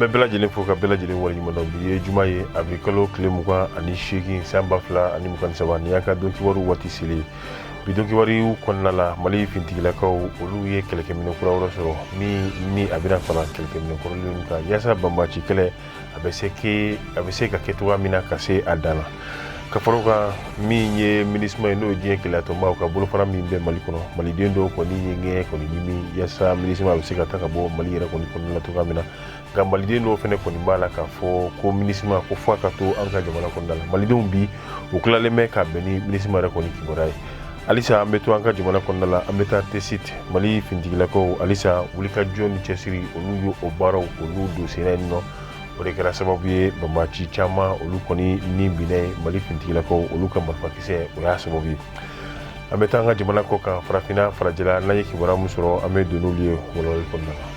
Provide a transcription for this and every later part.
bɛ bɛɛ lajɛlen fo ka bɛɛ lajɛlen waleɲumandɔn bi ye juma ye abirikalo tile mugan ani seegin san ba fila ani mugan ni saba ni y'an ka don kibaru waati selen bi don kibaruw kɔnɔna la mali fintigilakaw olu ye kɛlɛkɛminɛ kura wɛrɛ sɔrɔ min ni a bɛna fara kɛlɛkɛminɛ kɔrɔlenw kan yaasa banbaci kɛlɛ a bɛ se ke a bɛ se ka kɛ cogoya min na ka se a dan na ka fara o kan min ye minisuma ye n'o ye diɲɛ kelenyatɔnbaw ka bolofara min bɛ mali kɔnɔ maliden dɔw kɔni ye ŋɛɲɛ kɔni ɲimi yaasa minisuma bɛ se ka taa ka bɔ mali yɛrɛ kɔni kɔnɔna na cogoya min na nka maliden dɔw fana kɔni b'a la k'a fɔ ko minisima ko fo a ka to an ka jamana kɔnɔna la malidenw bi u tilalen bɛ ka bɛn ni minisima yɛrɛ kɔni kibaruya ye halisa an bɛ to an ka jamana kɔnɔna la an bɛ taa tesit mali fintigilakaw halisa wulikajɔ ni cɛsiri olu ye o baaraw olu don senna yen nɔ o de kɛra sababu ye banbaci caman olu kɔni ni binna yen mali fintigilakaw olu ka marifakisɛ o y'a sababu ye an bɛ taa an ka jamana kɔ kan farafinna farajɛla n'an ye kibaruya min sɔrɔ an bɛ don n'olu ye walawalali kɔnɔna la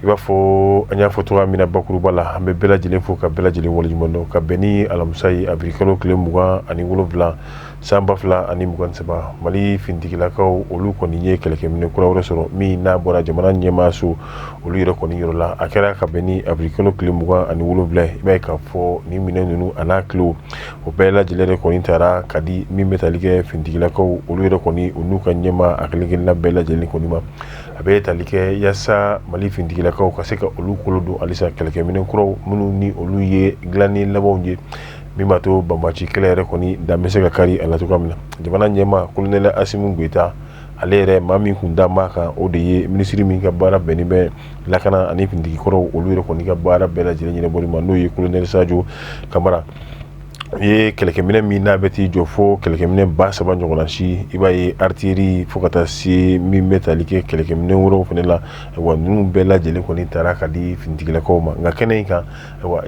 i b'a fɔ an y'a fɔ cogoya min na bakuruba la an bɛ bɛɛ lajɛlen fo ka bɛɛ lajɛlen waleɲumandɔn ka bɛn ni alamisa ye abirikalo tile mugan ani wolonwula san ba fila ani mugan saba mali fintigilakaw olu kɔni ye kɛlɛkɛminɛ kura wɛrɛ sɔrɔ min n'a bɔra jamana ɲɛmaa so olu yɛrɛ kɔni yɔrɔ la a kɛra ka bɛn ni abirikalo tile mugan ani wolonwula i b'a ye k'a fɔ nin minɛn ninnu a n'a kile o bɛɛ lajɛlen de kɔni taara ka di min bɛ tali kɛ fintigilakaw olu yɛrɛ kɔni u n'u ka ɲɛmaa kelenkelenna bɛɛ lajɛlen kɔni ma a bɛ tali kɛ yaasa mali fintigilakaw ka se ka olu kolo don halisa kɛlɛkɛminɛ kuraw minnu ni olu ye dilanni labanw ye min b'a to banbaci kɛlɛ yɛrɛ kɔni dan bɛ se ka kari a la cogoya min na jamana ɲɛmaa kolonɛli asimu goyita ale yɛrɛ maa min kun da ma kan o de ye minisiri min ka baara bɛnnen bɛ lakana ani fintigikɔrɔw olu yɛrɛ kɔni ka baara bɛɛ lajɛlen ɲɛnabɔ ma n'o ye kolonɛli sajo kamara u ye kɛlɛkɛminɛ min n'a bɛ t'i jɔ fo kɛlɛkɛminɛ ba saba ɲɔgɔnna si i b'a ye aritiyeri fo ka taa se min bɛ tali kɛ kɛlɛkɛminɛ wɛrɛw fana la wa ninnu bɛɛ lajɛlen kɔni taara ka di fintigilakaw ma nka kɛnɛ in kan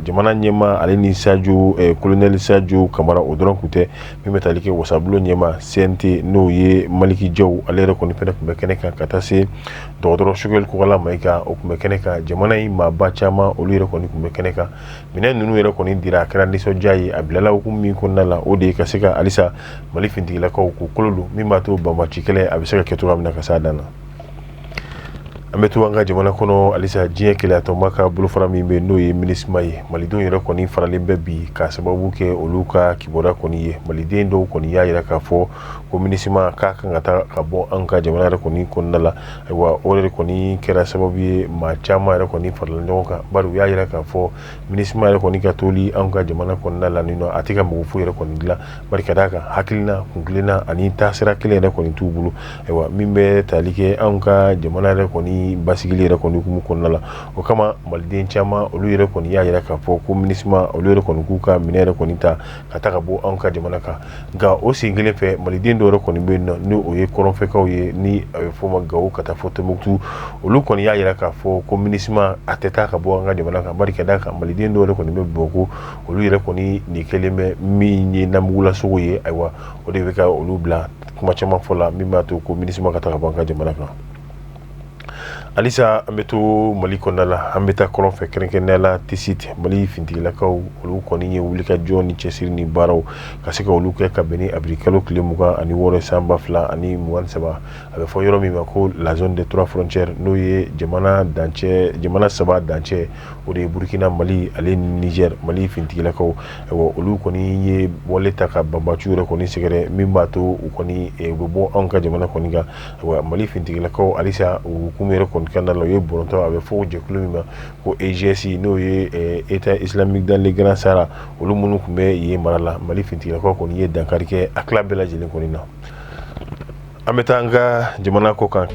jamana ɲɛmaa ale ni sajo kolonɛli sajo kamara o dɔrɔn tun tɛ min bɛ tali kɛ wasabulon ɲɛmaa seɛnte n'o ye maliki jaw ale yɛrɛ kɔni fana tun bɛ kɛnɛ kan ka taa se dɔgɔtɔrɔ sogɛli kokala mayiga o tun bɛ kɛnɛ kan jamana in maaba caman olu yɛrɛ kɔni tun bɛ kɛnɛ kan minɛn ninnu yɛrɛ kɔni dira a kɛra nisɔndiya ye a bilala hukumu min kɔnɔna la o de ye ka se ka halisa mali fintigilakaw k'u kolo don min b'a to banbaci kɛlɛ a bɛ se ka kɛ cogoya min na ka s'a dan na an bɛ to an ka jamana kɔnɔ halisa diɲɛ kelenyatɔnba ka bolofara min bɛ n'o ye minisima ye malidenw yɛrɛ kɔni faralen bɛ bi ka sababu kɛ olu ka kibaruya kɔni ye maliden dɔw kɔni y'a jira k'a fɔ ko minusma ka kan ka taa ka bɔ an ka jamana yɛrɛ kɔni kɔnɔna la ayiwa o yɛrɛ kɔni kɛra sababu ye maa caman yɛrɛ kɔni farala ɲɔgɔn kan bari u y'a jira k'a fɔ minusma yɛrɛ kɔni ka toli an ka jamana kɔnɔna la nin a tɛ ka mago foyi yɛrɛ kɔni dilan bari ka d'a kan hakilina kuntilenna ani taasira kelen yɛrɛ kɔni t'u bolo ayiwa min bɛ tali kɛ an ka jamana yɛrɛ kɔni basigili yɛrɛ kɔni hukumu kɔnɔna la o kama maliden caman olu yɛrɛ kɔni y'a jira k'a fɔ ko minusma olu yɛrɛ kɔni k'u ka minɛn yɛrɛ kɔni ta ka taa ka bɔ anw ka jamana kan nka o sen kelen fɛ maliden dɔw yɛrɛ kɔni bɛ yen ni o ye kɔrɔnfɛkaw ye ni a bɛ fɔ o ma gawo ka taa fɔ tɔnbukutu olu kɔni y'a jira k'a fɔ ko minusma a tɛ taa ka bɔ an ka jamana kan bari ka d'a kan maliden dɔw yɛrɛ kɔni bɛ bamakɔ olu yɛrɛ kɔni nin kɛlen bɛ min ye namugulasogo ye ayiwa o de bɛ ka olu bila kuma caman fɔ la min b'a to ko minusma ka taa ka bɔ an ka jamana kan halisa an bɛ to mali kɔnɔna la an bɛ taa kɔrɔn fɛ kɛrɛnkɛrɛnnenya la tesit mali fintigilakaw olu kɔni ye wulikajɔ ni cɛsiri ni baaraw ka se ka olu kɛ ka bɛn ni awirili kalo tile mugan ani wɔɔrɔ san ba fila ani mugan saba a bɛ fɔ yɔrɔ min ma ko la zone des trois frontières n'o ye jamana dancɛ jamana saba dancɛ o de ye burukina mali ale ni nizɛri mali fintigilakaw olu kɔni ye wale ta ka banbaciw yɛrɛ kɔni sɛgɛrɛ min b'a to u kɔni u bɛ bɔ anw ka jamana kɔni kan wa mali fintigilakaw halisa u hukumu yɛrɛ kɔni kɔnɔna la u ye bɔrɔtɔ a bɛ fɔ jɛkulu min ma ko eigs n'o ye état islamique dans le grand sahara olu minnu tun bɛ yen mara la mali fintigilakaw kɔni ye dankari kɛ a tila bɛɛ lajɛlen kɔni na an bɛ taa an ka jamana kɔ kan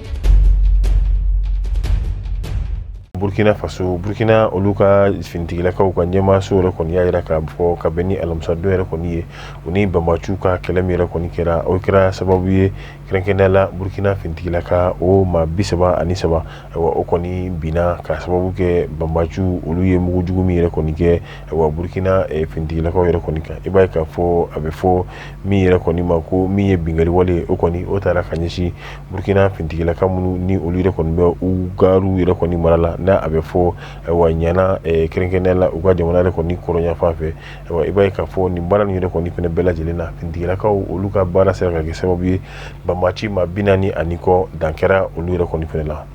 burukina faso burukina olu ka fintigilakaw ka ɲɛmaaso yɛrɛ kɔni y'a jira k'a fɔ ka bɛn ni alamisadon yɛrɛ kɔni ye u ni banbaciw ka kɛlɛ min yɛrɛ kɔni kɛra o kɛra sababu ye kɛrɛnkɛrɛnnenya la burukina fintigilaka o maa bi saba ani saba o kɔni binna ka sababu kɛ banbaciw olu ye mugu jugu min yɛrɛ kɔni kɛ burukina fintigilakaw yɛrɛ kɔni kan i b'a ye k'a fɔ a bɛ fɔ min yɛrɛ kɔni ma ko min ye binkanniwale o kɔni o taara ka ɲɛsin burukina fintigilaka minnu ni olu yɛrɛ kɔni bɛ ugaru yɛrɛ kɔni mara la n'a bɛ fɔ wa ɲaɲa kɛrɛnkɛrɛnnenya la u ka jamana yɛrɛ kɔni kɔrɔnyanfan fɛ i b'a ye k'a fɔ nin baara yɛrɛ kɔni fɛnɛ bɛɛ lajɛlen na fintigilakaw olu ka baara sera ka kɛ sababu ye banbaci maa bi naani ani kɔ dan kɛra olu yɛrɛ kɔni fɛnɛ la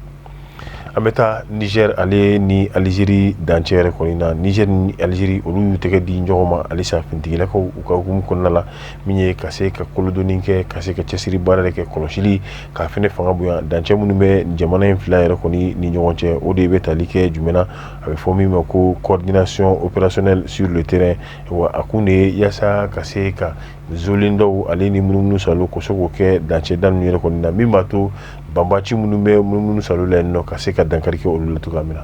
an bɛ taa nizɛri ale ni aliziri dancɛ yɛrɛ kɔni na nizɛri ni aliziri olu y'u tɛgɛ di ɲɔgɔn ma halisa fintigilakaw u ka hukumu kɔnɔna la min ye ka se ka kolodonni kɛ ka se ka cɛsiri baara de kɛ kɔlɔsili k'a fɛnɛ fanga bonya dancɛ minnu bɛ jamana in fila yɛrɛ kɔni ni ɲɔgɔn cɛ o de bɛ tali kɛ jumɛn na a bɛ fɔ min ma ko coordination opérationnelle sur le terrain wa a kun de ye yaasa ka se ka zlen dɔw ale ni munumunu saalo k'u se k'o kɛ dancɛda ninnu yɛrɛ kɔnɔna na min b'a to banbaci minnu bɛ munumunu saalo la yen nɔ ka se ka dankari kɛ olu la cogoya min na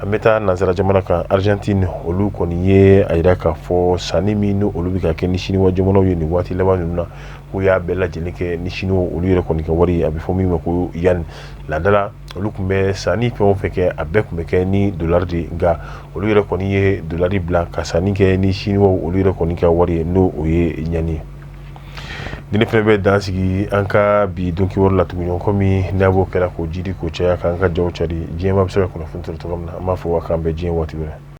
an bɛ taa nansara jamana kan Argentine olu kɔni ye a jira k'a fɔ sanni min olu bɛ ka kɛ ni siniwa jamanaw ye nin waati laban ninnu na k'u y'a bɛɛ lajɛlen kɛ ni siniwa olu yɛrɛ kɔni ka wari a bɛ fɔ min ma ko yuan laada la olu tun bɛ sanni fɛn o fɛn kɛ a bɛɛ tun bɛ kɛ ni dolari de nka olu yɛrɛ kɔni ye dolari bila ka sanni kɛ ni siniwa olu yɛrɛ kɔni ka wari ye n'o o ye yuan ye nin fɛnɛ bɛ dan sigi an ka bi donkibaru la tugun kɔmi n'a b'o kɛra k'o jiidi k'o caya k'an ka jaw cari diɲɛ maa bɛ se ka kunnafoni sɔrɔ cogo min na an b'a fɔ wa k'an bɛn diɲɛ waati wɛrɛ